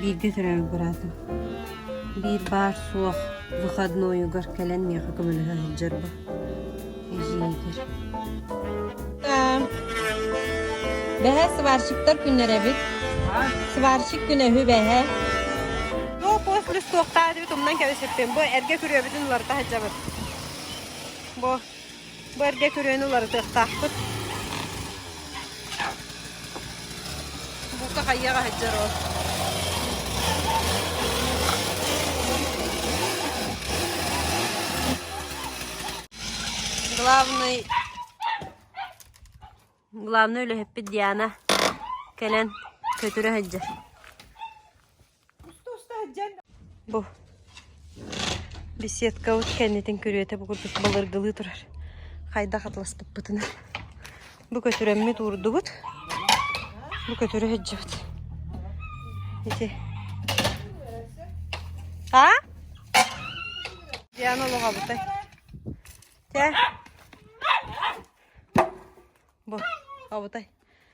Бииргэ төрөөбүт быраатым биир баар-суох выходнойугар кэлэн миэхэ көмөлөһө сылдьарбын эдьиийигэр Бэһэ сварщиктар күннэр эбит. Сварщик күнэ үһү бэһэ. Туох уос плюс суохтаах эбит умнан кэбиспиппин. Бу эргэ күрүөбүтүн уларыта сылдьабыт. Бу Бу эргэ күрүөнү уларытыахтаахпыт. Бука хайыах аһыдьар ол. Главный главный үлэһиппит Диана кэлэн көтүрэ сылдьар. Бу беседкабыт кэннитин күрүөтэ бу курдук балыргылыы турар. Хайдах атласпыппытынан. Бу көтүрэммит уурдубут. Бу көтүрэ сылдьыбыт. Ити. А? Диана олоҕабытай. Те. Бу, абытай.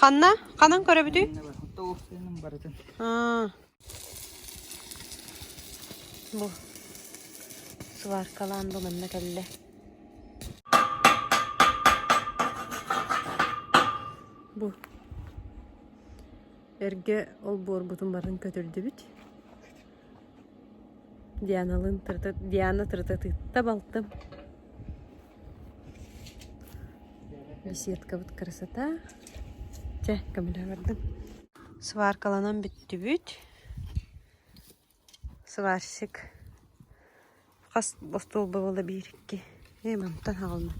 Ханна? Ханан көрөбүтүй? Бу сваркалаан да манна кэллэ. Бу эргэ олбуоргутун барын көтүрдүбүт. Дианалыын тырыта Диана тырытатыытта балтым Беседкабыт красота Чэ көмөлөһө бардым Сваркаланан бүттүбүт Сварщик Хас остуолба буола биир, икки, эм онтон аҕалла.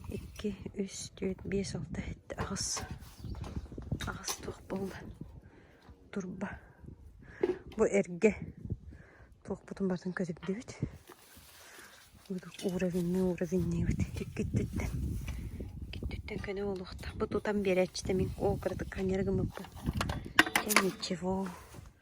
Икки, үс, түөрт, биэс, алта, сэттэ, аҕыс. Аҕыс туох буолла? Турба. Бу эргэ. Туохпутун барытын көтүрдүбүт. Уровенныы уровенниибит. Иккиттиттэн. Иккиттиттэн көнө буолуохтаах. Бу тутан биэрээччитэ мин ол кыратык ханньары гыммыппын. Ничего.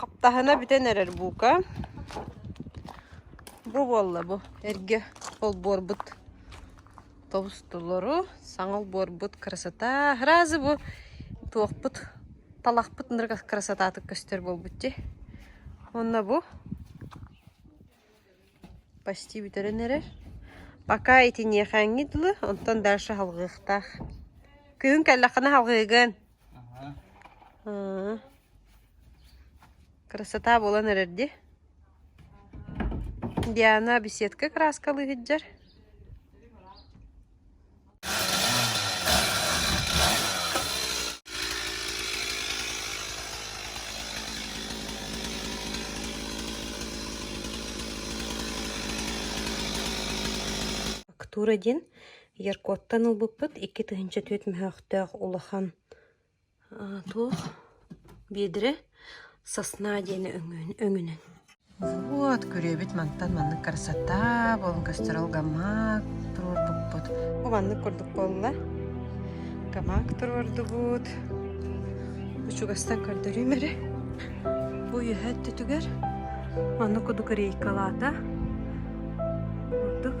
Хаптаһына бүтэн эрэр бука. Бу буолла бу эргэ олбуорбут тобустулору, саҥа олбуорбут красота. Разы бу туохпут талахпыт нырга красотатык көстөр буолбут ди. Онна бу Почти бүтэрэн эрэр. Пока итиниэхээҥҥит дылы, онтон дальше салҕыахтаах. Күһүн кэллэххинэ салҕыыгын. Аа. Красота буолан эрэр дии. Диана беседка краскалыы сылдьар. Актура диэн Яркоттан ылбыппыт икки тыһыынча түөрт мөһөөхтөөх улахан Туох биэдэрэ сосна диэни өҥүнэн Вот күрүөбүт мантан маннык красота буолан көстөр ол гамак туруорбуппут. Бу маннык курдук буолла. Гамак туруордубут. Учугастан көрдөрүүм эрэ. Бу үөһэ өттүтүгэр маннык кудук рейкалаата. Курдук.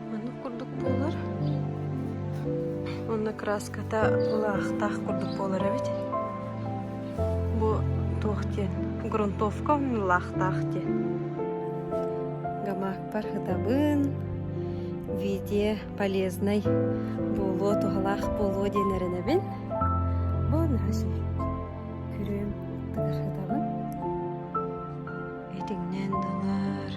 Маннык курдук буолар. Онно краската былаахтаах курдук буолар эбит. Бу туох диэн? Грунтовка ыллаахтаах диэн. Гамакпар ытабын виде полезной буолуо туһалаах буолуо диэн эрэнэбин. Бу наһаа сөп. Күрүөм тыгырһытабын. Этиҥнэн дылар.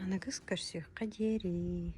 аныгыс көрсүөххэ диэри